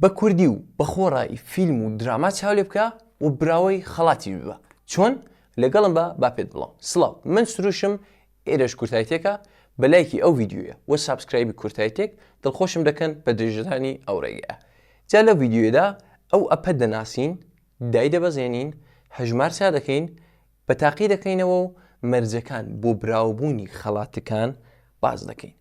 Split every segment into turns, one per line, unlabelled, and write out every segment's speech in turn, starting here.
بە کوردی و بە خۆڕایی فیلم و دراما چاو لێ بکە و براوەی خەڵاتیش ببە چۆن؟ لەگەڵم بە با پێت بڵام سڵاو من سروشم ئێرەش کورتای تێکە بە لایکی ئەو ڤیدیۆیە و سابسکرایبی کورتای تێک دڵخۆشم دەکەن بە درێژەدانی ئەو ڕێگایە جا لەو ڤیدیۆیەدا ئەو ئەپە دەناسین دایدەبەزێنین هەژمار چا دەکەین بە تاقی دەکەینەوە و مەرجەکان بۆ براوەبوونی خەڵاتەکان باس دەکەین.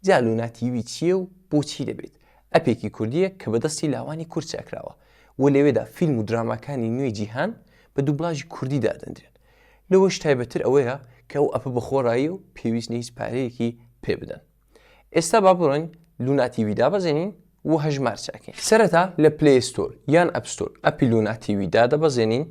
جا لونا تیوی چیە و بۆچی دەبێت؟ ئەپێکی کوردیە کە بەدەستی لاوانی کورد چاکراوە و لەوێدا فیلم و دراماکانی نوێی جیهان بە دوبلاژی کوردی دادەندرێن لەوەش تایبەتر ئەوەیە کە ئەو ئەپە بەخۆڕاییە و پێویست نیە هیچ پارەیەکی پێبدەن ئێستا با بڕۆین لونا تیوی دابەزێنین و هەژمار چاکەین سەرەتا لە پلەی ستۆر یان ئەپ ستۆر ئەپی لونا تیوی دادەبەزێنین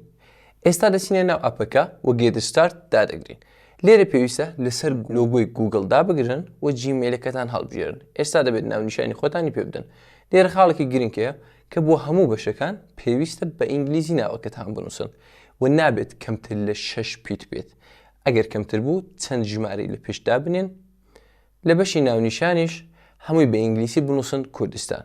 ئێستا دەچینە ناو ئەپەکە و گێت ستارت دادەگرین لێرە پێویستە لەسەر لۆگۆی گووگڵ دابگرن و جیمێلەکەتان هەڵبژێرن ئێستا دەبێت ناونیشانی خۆتانی پێ بدەن لێرە خاڵێکی گرنگ هەیە کە بۆ هەموو بەشەکان پێویستە بە ئینگلیزی ناوەکەتان بنووسن و نابێت کەمتر لە شەش پیت بێت ئەگەر کەمتر بوو چەند ژمارەی لە پێش دابنێن لە بەشی ناونیشانیش هەمووی بە ئینگلیسی بنووسن کوردستان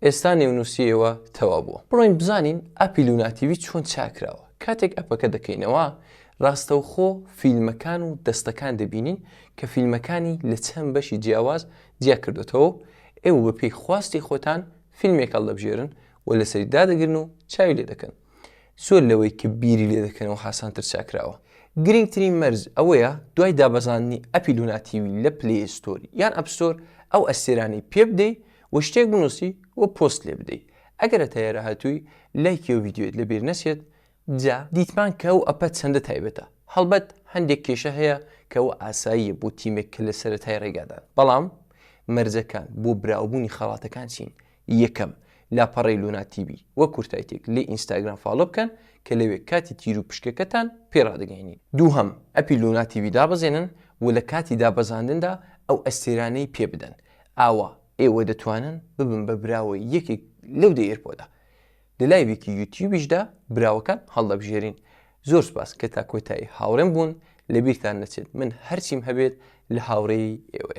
ئێستا نێونووسیەوە تەواو بووە. بڕۆین بزانین ئەپی لونا تیڤی چۆن چاک کراوە کاتێک ئەپەکە دەکەینەوە ڕاستەوخۆ فیلمەکان و دەستەکان دەبینین کە فیلمەکانی لە چەند بەشی جیاواز جیا کردۆتەوە و ئێوە بە پێی خواستی خۆتان فیلمێک هەڵدەبژێرن و لەسەری دادەگرن و چاوی لێ دەکەن زۆر لەوەی کە بیری لێ دەکەنەوە هاسانتر چاکراوە. گرنگترین مەرج ئەوەیە دوای دابەزاندنی ئەپی لونا تیوی لە پلەی ستۆر یان ئەپ ستۆر ئەو ئەستێرانەی پێ بدەی و شتێک بنووسی و پۆست لێ بدەی ئەگەر هەتا ئێرە هاتووی لایکی ئەو ڤیدیۆیەت لە بیر نەچێت جا دیتمان کە ئەو ئەپە چەندە تایبەتە هەڵبەت هەندێک کێشە هەیە کە ئەوە ئاساییە بۆ تیمێک کە لە سەرەتای ڕێگادان بەڵام مەرجەکان بۆ براوەبوونی خەڵاتەکان چین یەکەم، لاپەڕەی لونا تیڤی وەک کورتایتێک لەی ئینستاگرام فاڵۆ بکەن کە لەوێ کاتی تیروپشکەکەتان پێ ڕادەگەیەنین. دووهەم، ئەپی لونا تیڤی دابەزێنن و لە کاتی دابەزاندندا ئەو ئەستێرانەی پێ بدەن. ئاوا ئێوە دەتوانن ببن بە براوەی یەکێک لەو دە ئێرپۆدە. لە لایڤێکی یوتیوبیشدا براوەکان هەڵدەبژێرین. زۆر سوپاس کە تا کۆتایی هاوڕێم بوون، لەبیرتان نەچێت من هەرچیم هەبێت لە هاوڕێی ئێوەیە.